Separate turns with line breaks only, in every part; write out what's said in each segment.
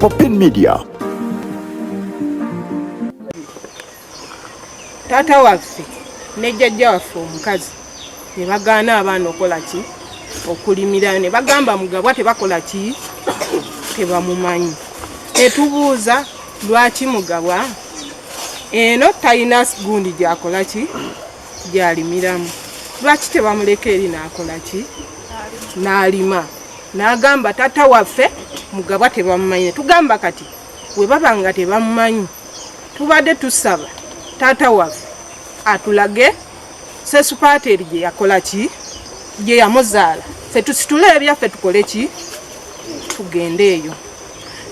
Popin Media.
Tata waffe ne jajja waffe omukazi ne bagaana abaana okola ki okulimira ne bagamba mugabwa tebakola ki tebamumanyi netubuuza lwaki mugabwa eno talina gundi gyakola ki gyalimiramu lwaki tebamuleka eri nakolaki nalima nagamba tata waffe mugabwa tebamumanyi netugamba kati webaba nga tebamumanyi tubadde tusaba tata waffe atulage sesupateri gyeyakolaki gyeyamuzaala fetusitule ebyaffe tukoleki tugende eyo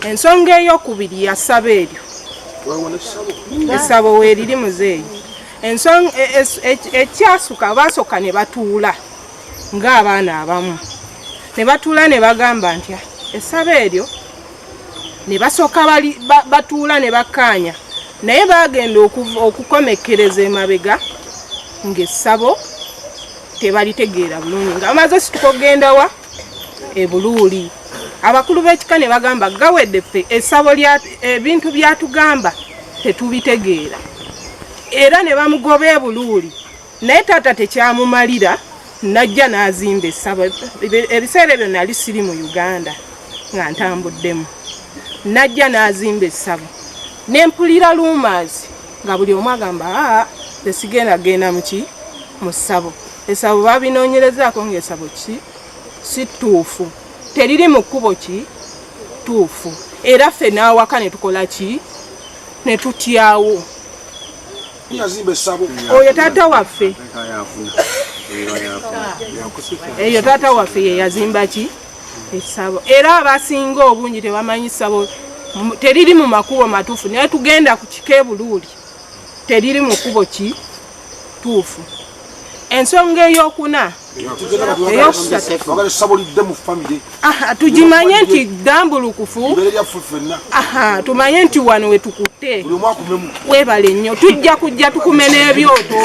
ensonga eyokubiri yasaba eryo esabo weriri muzeeyi ensonga e, e, e, ekyasuka baasooka ne batuula ng'abaana abamu ne batuula ne bagamba nti essaba eryo ne basooka batuula ne bakkaanya naye baagenda okukomekkereza emabega ng'essabo tebalitegeera bulungi nga bamaze situka okugendawa e Buluuli abakulu b'ekika ne bagamba gawedde ffe essabo lya ebintu byatugamba tetubitegeera era ne bamugoba e Buluuli naye taata tekyamumalira najja n'azimba essabo ebiseera ebyo nali siri mu Uganda nga ntambuddemu najja n'azimba essabo ne mpulira luumaazi nga buli omu agamba aa esigenda genda muki mu ssabo Esabo babinoonyerezaako ng'esabo ki si ttuufu, teriri mu kkubo ki ttuufu, era ffe n'awaka ne tukola ki ne tutyawo oyo taata waffe eyo taata waffe ye yazimba ki esabo era abasinga obungi tebamanyi sabo teriri mu makubo matuufu naye tugenda ku kika ebuluuli teriri mu kubo ki tuufu ensonga eyokuna ah, tugimanye nti dambulukufu tumanye nti wano wetukutte webale nnyo tujja kujja tukume n'ebyoto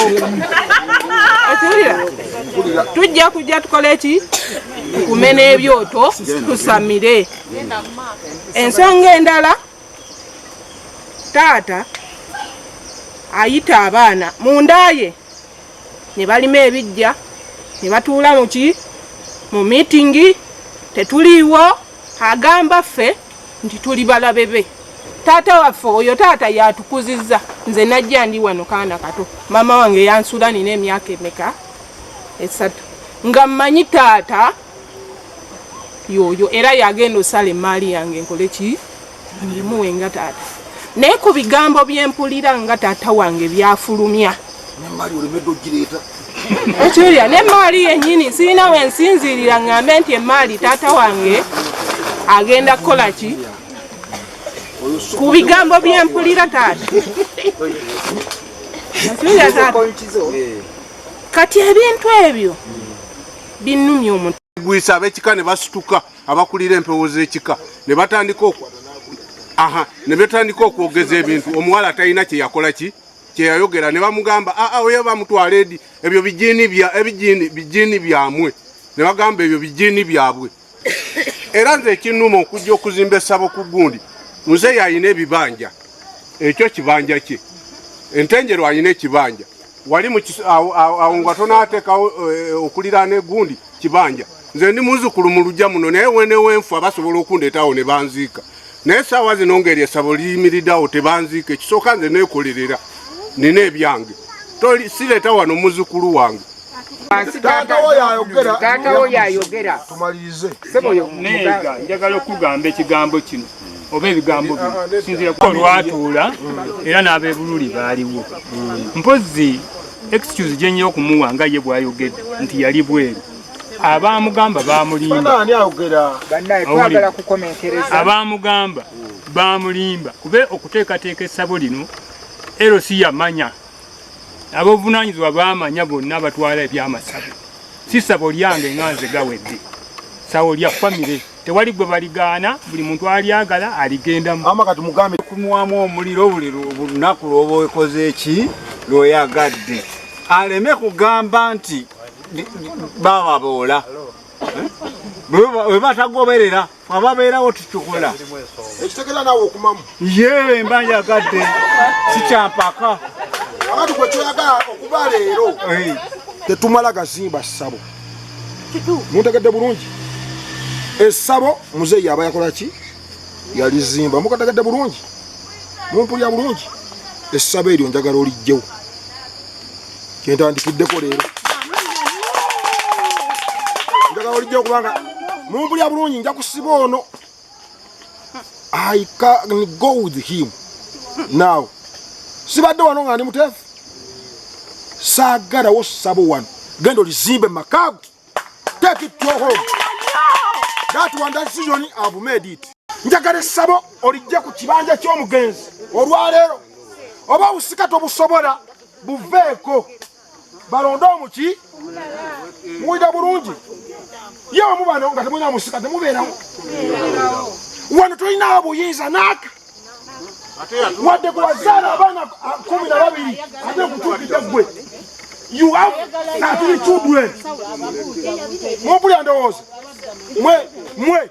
tujja kujja tukole ki tukume n'ebyoto tusamire ensonga endala Taata ayita abaana mu nda ye ne balima ebijja ne batuula mu ki mu miitingi tetuliiwo agamba ffe nti tuli balabe be taata waffe oyo taata yatukuzizza nze najja ndi wano kaana kato maama wange yansula nina emyaka emeka esatu nga mmanyi taata yoyo era yagenda osala emaali yange nkole ki ngimuwe nga taata naye ku bigambo byempulira nga taata wange byafulumya ekirya nemaali yenyini sirina wensinziirira ngambe nti emaali taata wange agenda kukola ki ku bigambo byempulira taata kati ebintu ebyo binnumya omuntu gwisa abekika ne
basituka abakulira empewo z'ekika ne batandika aha ne betandika okwogeza ebintu omuwala atalina kye yakola ki kye yayogera ne bamugamba aa ah, ah, oyo bamutwala edi ebyo bijini bya ebijini bijini byamwe ne bagamba ebyo bijini byabwe era nze ekinnuma okujja okuzimba essabo ku gundi muzeeyi alina ebibanja ekyo kibanja kye entenjero alina ekibanja wali awo nga tonaatekawo eh, okuliraana egundi kibanja nze ndi muzukulu mu lujja muno naye wenewenfu abasobola okundeetawo ne banziika naye saawa zino ngeri esabo liyimiridawo tebanziika ekisooka nze nekolerera nina ebyange sireeta wano muzukulu wange taata
wo yayogera taata wo yayogera tumalirize sebo yo nega
njagala okugamba ekigambo kino oba ebigambo bino ah, ah, sinzira ko lwatuula era n'abebululi baaliwo mpozi excuse gye nnyo okumuwa nga ye bwayogedde nti yali bweru abamugamba bamulimba abamugamba bamulimba kube okuteekateeka essabo lino ero si yamanya ab'obuvunaanyizibwa baamanya bonna abatwala ebyamasabo si ssabo lyange nga nze gawedde sawo lya famire tewali gwe baligaana buli muntu alyagala aligendamu ama kati mugambe
kunwamu omuliro
buli lunaku lwoba okoze eki lweyagadde aleme kugamba nti baba boola eh? webatagoberera ababeerawo tukikola ekitegera
nawe okumamu ye mba
njagadde sikyampaka abati
gwe kyoyagala okuba leero tetumala gazimba ssabo muntegedde bulungi essabo muzeeyi yaba yakola ki yalizimba mukategedde bulungi mumpulira bulungi essabo eryo njagala olijjewo kyentandikiddeko leero njagala olijja okuba nga mumpulya bulungi nja kusiba ono i can go with him now sibadde wano nga ndi muteefu saagalawo sabo wano genda olizimbe makaago take it to home that one that decision i've made it njagala essabo olijja ku kibanja ky'omugenzi olwaleero oba obusika tobusobola buveeko balonde omuki muwulira bulungi ye omu bano nga temulina musika temubeerawo wano tolinawo buyinza naaka wadde gwewazaala abaana ah, kumi na babiri ate okutuukidde gwe you have atiri children mupulya ndowooza mwe mwe